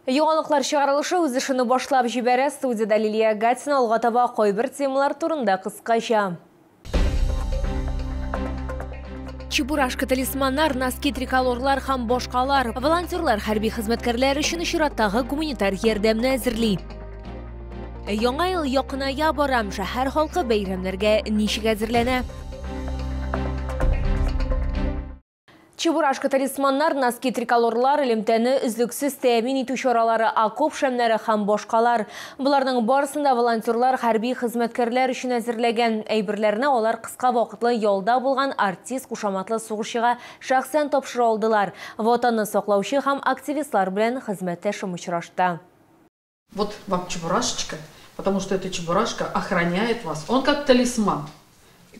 Яңалыклар чыгарылышы үз эшене башлап җибәрә. Студиядә Лилия Гатина алга таба кайбер темалар турында кыскача. Чебурашка талисманнар, носки триколорлар һәм башкалар. Волонтерлар хәрби хезмәткәрләр өчен чираттагы гуманитар ярдәмне әзерли. Яңа ел якыная барам, шәһәр халкы бәйрәмнәргә ничек әзерләнә? Чебурашка талисманнар, носки триколорлар, элемтәне өзлексез тәэмин итү чаралары, окоп шәмнәре һәм башкалар. Боларның барысын да волонтерлар хәрби хезмәткәрләр өчен әзерләгән. Әйберләрне алар кыска вакытлы ялда булган артист кушаматлы сугышчыга шәхсән тапшыра алдылар. Ватанны саклаучы һәм активистлар белән хезмәттәшем очрашты. Вот вам чебурашечка, потому что эта чебурашка охраняет вас, он как талисман.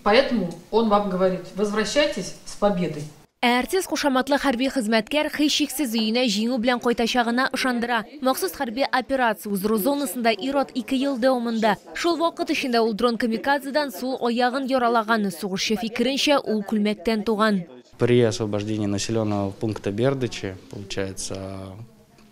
Поэтому он вам говорит, возвращайтесь с победой. Ә артист кушаматлы хәрби хезмәткәр һичшиксез өенә җиңү белән кайтачагына ышандыра. Махсус хәрби операция уздыру зонасында ир-ат ике ел дәвамында. Шул вакыт эчендә ул дрон камикадзедан сул аягын яралаган. Сугышчы фикеренчә, ул күлмәктән туган. При освобождении населенного пункта Бердычи, получается,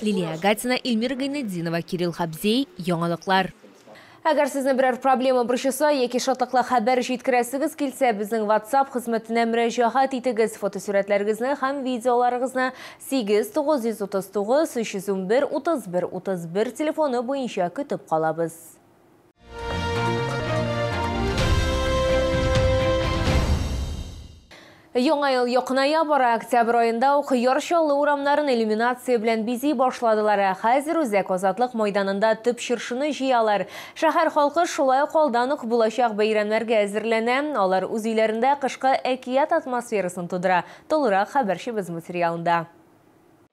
Лилия Агатина, Ильмира Гайнетдинова, Кирилл Хабзей, Яңалыклар. Әгәр сезне берәр проблема борчыса яки шатлыклы хәбәр җиткерәсегез килсә, безнең WhatsApp хезмәтенә мөрәҗәгать итегез. Фотосурәтләрегезне һәм видеоларыгызны 8 939 311 31 31 телефоны буенча көтеп калабыз. Яңа ел якыная бара, октябрь аенда ук Яр Чаллы урамнарын иллюминация белән бизи башладылар. Ә хәзер Үзәк Азатлык мәйданында төп чыршыны җыялар. Шәһәр халкы шулай ук алдан ук булачак бәйрәмнәргә әзерләнә. Алар үз өйләрендә кышкы әкият атмосферасын тудыра. Тулырак хәбәрчебез материалында.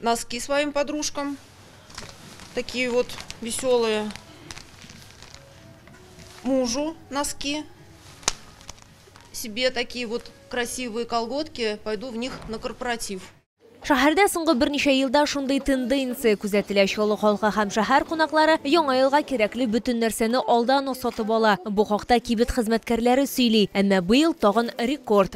Носки своим подружкам. Такие вот веселые. Мужу носки. Себе такие вот красивые колготки. Пойду в них на корпоратив. Шәһәрдә соңгы берничә елда шундый тенденция күзәтелә. Чаллы халкы һәм шәһәр кунаклары яңа елга кирәкле бөтен нәрсәне алдан ук сатып ала. Бу хакта кибет хезмәткәрләре сөйли. Әмма быел тагын рекорд.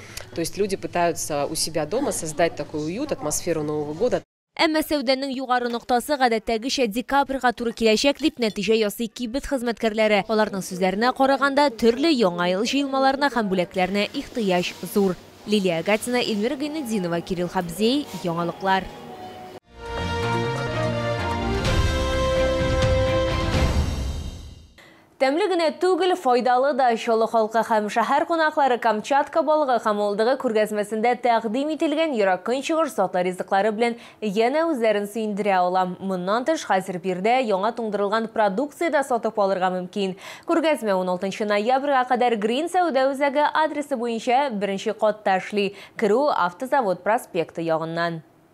То есть люди пытаются у себя дома создать такой уют, атмосферу Нового года. Әмма сәүдәнең югары ноктасы гадәттәгечә декабрьга туры киләчәк, дип нәтиҗә ясый кибет хезмәткәрләре. Аларның сүзләренә караганда, төрле Яңа ел җыелмаларына һәм бүләкләренә ихтыяҗ зур. Лилия Агатина, Эльмира Гайнетдинова, Кирилл Хабзей, Яңалыклар. Тәмле генә түгел, файдалы да. Чаллы халкы һәм шәһәр кунаклары Камчатка балыгы һәм мылтыгы күргәзмәсендә тәкъдим ителгән ерак Көнчыгыш затлы ризыклары белән янә үзләрен сөендерә ала. Моннан тыш, хәзер биредә яңа туңдырылган продукция дә сатып алырга мөмкин. Күргәзмә уналтынчы ноябрьгә кадәр Грин сәүдә үзәге адресы буенча беренче катта эшли, керү Автозавод проспекты ягыннан.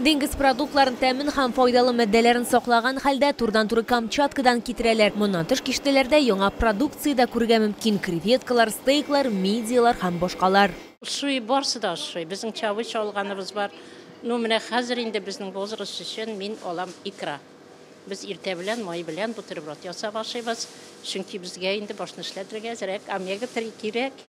Диңгез продуктларын, тәмен һәм файдалы матдәләрен саклаган хәлдә, турыдан-туры Камчаткадан китерәләр. Моннан тыш киштәләрдә яңа продукция дә күрергә мөмкин, креветкалар, стейклар, мидияләр һәм башкалар. Ошый, барысы да ошый. Безнең чабыч алганыбыз бар. Ну, менә хәзер инде безнең возраст өчен мин алам икра. Без иртә белән май белән бутерброд ясап ашыйбыз, чөнки безгә инде башны эшләтергә әзрәк, омега-3 кирәк.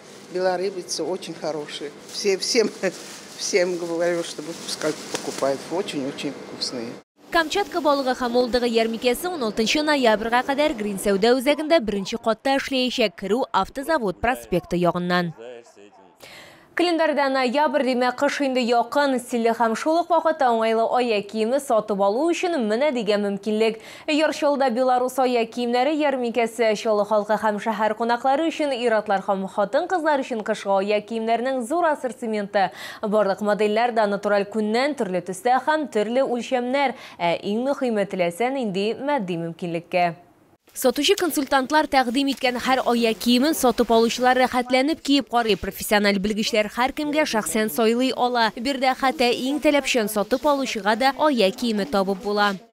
Белорыбица очень хорошие. Все, всем, всем говорю, чтобы пускай покупают. Очень-очень вкусные. Камчатка балыгы һәм олдыгы ярмикәсе 16 ноябрьга кадәр Грин сәүдә үзәгендә беренче катта эшләячәк, керү автозавод проспекты ягыннан. Календарьда ноябрь, димәк, кыш инде якын, стильле һәм шул ук вакытта уңайлы аяк киеме сатып алу өчен менә дигән мөмкинлек. Яр Чаллыда Беларус аяк киемнәре ярминкәсе, Чаллы халкы һәм шәһәр кунаклары өчен ир-атлар һәм хатын-кызлар өчен кышкы аяк киемнәренең зур ассортименты. Барлык модельләр дә натураль күннән, төрле төстә һәм төрле үлчәмнәр, ә иң мөхиме, теләсә нинди матди мөмкинлеккә. Сатучы-консультантлар тәкъдим иткән һәр аяк киемен сатып алучылар рәхәтләнеп киеп карый, профессиональ белгечләр һәркемгә шәхсән сайлый ала. Биредә хәтта иң таләпчән сатып алучыга да аяк киеме табып була.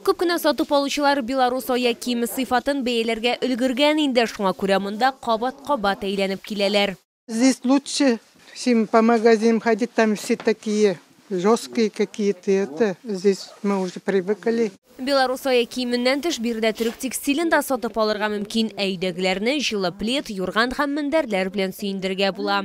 Күп кенә сатып алучылар белорус аяк киеме сыйфатын бәяләргә өлгергән инде, шуңа күрә монда кабат-кабат әйләнеп киләләр. Здесь лучше, чем по магазинам ходить, там все такие жесткие какие-то это, здесь мы уже привыкли. Белорус аяк киеменнән тыш, биредә төрек текстилен дә сатып алырга мөмкин, ә өйдәгеләрне җылы плед, юрган һәм мендәрләр белән сөендерергә була.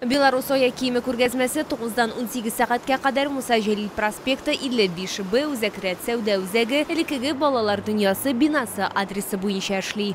Беларус аяк киеме күргәзмәсе тугыздан унсигез сәгатькә кадәр Муса Җәлил проспекты, 55 Б, Үзәк рәт сәүдә үзәге, элеккеге Балалар дөньясы бинасы адресы буенча эшли.